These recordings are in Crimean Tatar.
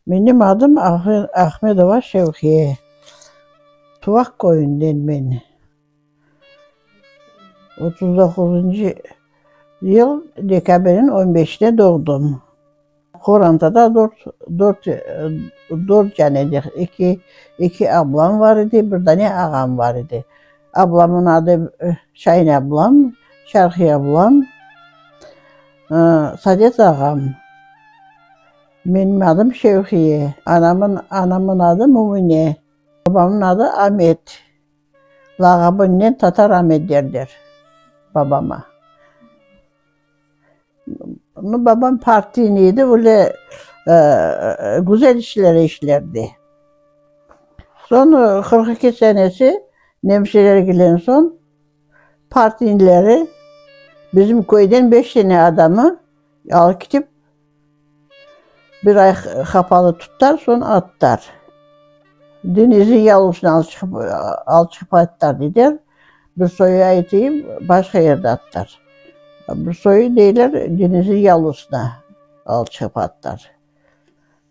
Menim adım Ahmedova Şevkiye. Tuvaq köyünden men. Otuz doquzuncı yıl dekabrniñ on beşinde doğdım. Qorantada dört dört dâne de, eki eki ablam bar edi, bir dâne ağam bar edi. Ablamnıñ adı Şahin ablam, Şarhiye ablam, Sadet ağam. Menim adım Şevhiye. Anamnıñ anamnıñ adı Mümüne. Babamnıñ adı Amet. Lağabınen Tatar Amet derler babama. Babam partiyniy edi, öyle güzel işler işlerdi. Soñ qırq eki senesi nemşelergiden soñ partiynileri bizim köyden beş tane adamı alıp ketip Bir ay hapalı tutar, soñ attar. Denizi yalıuşnı alıp çıqıp, alıp çıqıp attar deyler. Bir soyu aytayım, başqa yerde attar. Bir soyu deyler, denizi yalıuşnı alıp çıqıp attar.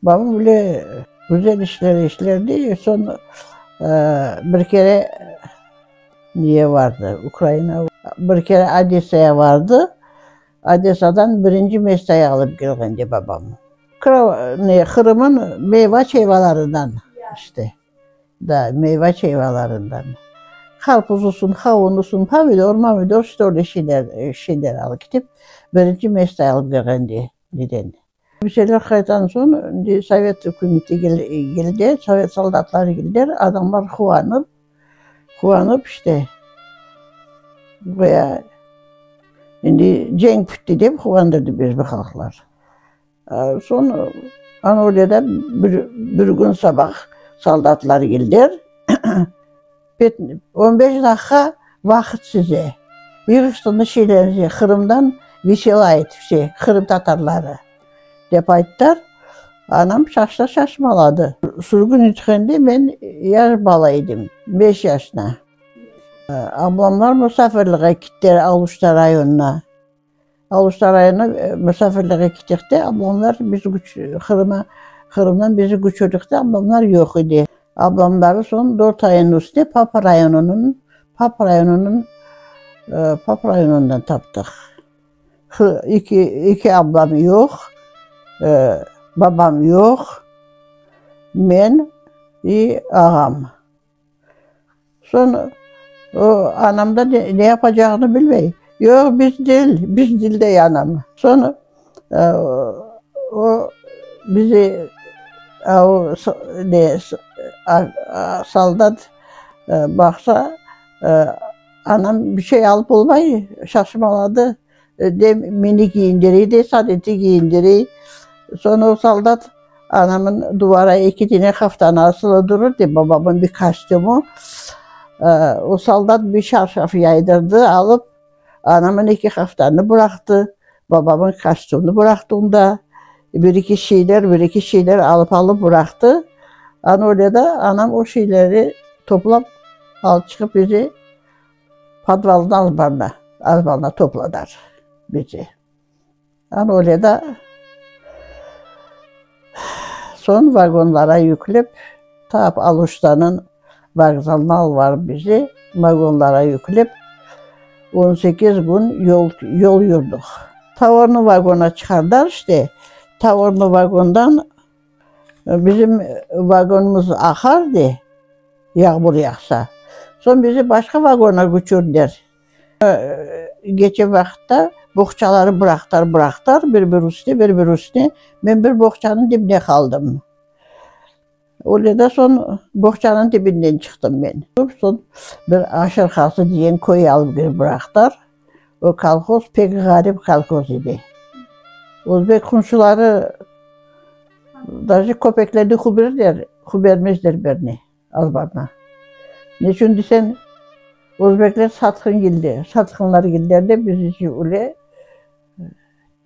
Babam böyle güzel işler işlerdi, soñ bir kere neye vardı, Ukraina, bir kere Odessaya vardı. Odesadan birinci mestay alıp kelğende babam. Kro, ne, Qırımın meyva çeyvalarından, işte, da, meyva çeyvalarından. Qarpuz olsun, qavun olsun, pomidor, momidor, işte, öyle şeyler, şeyler alıp ketip, birinci mestay alıp kelğende, neden. Bir şeyler qaytan soñ, indi sovet ükümeti keldi, sovet soldatları keldiler, adamlar quvanıp, quvanıp işte, goya indi cenk bitti dep quvandı bizim halqlar. Soñ Anadoluda bir gün sabah soldatlar keldiler. On beş daqqa vaqıt size. Yığıştınız şeylerinizi, Qırımdan vesela et vse qırımtatarları, dep ayttılar. Anam şaşta şaşmaladı. Sürgün etilgende men yaş bala edim, beş yaşına. Ablamlar musafirliğe kettiler Aluşta rayonına. Alusta rayonına musafirliğe kettik de, ablamlar biz Qırıma, Qırımdan bizi köçürdik de, ablamlar yoq edi. Ablamları soñ dört ayınıñ üstüne Papa rayonınıñ, Papa rayonınıñ, Papa rayonından taptıq. İki, iki ablam yoq, babam yoq, men i ağam. Soñ o anam da ne yapacağını bilmey, yoq, biz dil, biz dil dey anam. Soñ o bizi o ne soldat baqsa, anam bir şey alıp olmay, şaşmaladı. De meni kiyindirey de, Sadeti kiyindirey. Soñra o soldat anamnıñ duvara eki tane haftanı asılı durur, dep, babamnıñ bir kostümü. O soldat bir çarşaf yaydırdı, alıp, anamnıñ eki haftanı bıraqtı, babamnıñ kostümini bıraqtı onda. Bir eki şeyler, bir eki şeyler alıp-alıp bıraqtı. Ana öyle de anam o şeyleri toplap alıp çıqıp bizi. Podvaldan azbarna, azbarna topladılar bizi. Ana öyle da, soñ vagonlara yüklep, ta Aluştanıñ vokzalına albarıp bizi, vagonlara yüklep, on sekiz kün yol, yol yurdıq. Tavornıy vagona çıqardılar işte, tavornıy vagondan, Bizim vagonımız aqar de, yağmur yağsa. Soñ bizi başqa vagona küçürdiler. Geçen vaqıtta boğçaları bıraqtılar, bıraqtılar, bir-bir üstüne, bir-bir üstüne. Men bir boğçanıñ dibine qaldım. Öyle de soñ boğçanıñ dibinden çıqtım men. Soñ bir Aşırqazı degen köy alıp kirip bıraqtılar. O kolhoz pek ğarip kolhoz edi. Özbek qunşuları daje köpeklerni huberdiler, hubermezdiler berni, azbarna. Ne içün deseñ, özbekler satqın keldi, satqınlar keldiler de, biz öyle.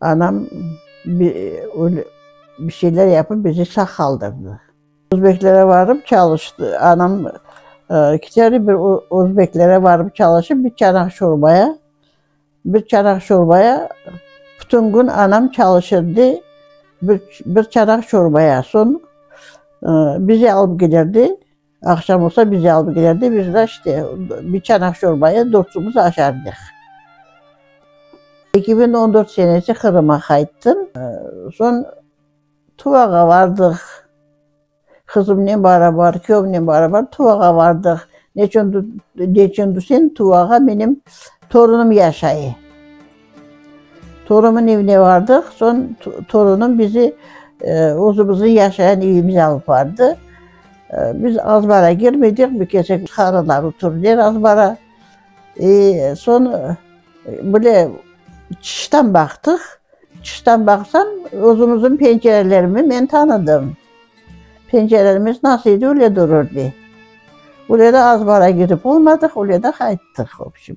Anam bir şeyler yapıp bizi sağ qaldırdı. Özbeklere varıp çalıştı. Anam iki kere bir özbeklere varıp çalışıp bir çanaq şorbaya, bir çanaq şorbaya bütün gün anam çalışırdı. Bir çanaq şorbaya. Soñ bizi alıp giderdi. Aqşam olsa bizi alıp kelerdi, biz de işte bir çanaq şorbayı dörtümiz aşardıq. Eki biñ on dört senesi Qırımğa qayttım. Soñ Tuvağa bardıq. Qızımnen barabar, küyevimnen barabar Tuvağa bardıq. Neçün desem, Tuvağa menim torunım yaşay. Torunımın evine bardıq, soñ torunım bizi özümizniñ yaşayan evimize alıp bardı. Biz azbara girmedik, bir kesek qarılar oturır edi azbara. Soñ böyle çıştan baqtıq, çıştan baqsam, özümizniñ pencerelerimi men tanıdım. Pencerelerimiz nasıl edi, öyle durur edi. Öyle de azbara girip olmadıq, öyle de qayttıq, vobşem.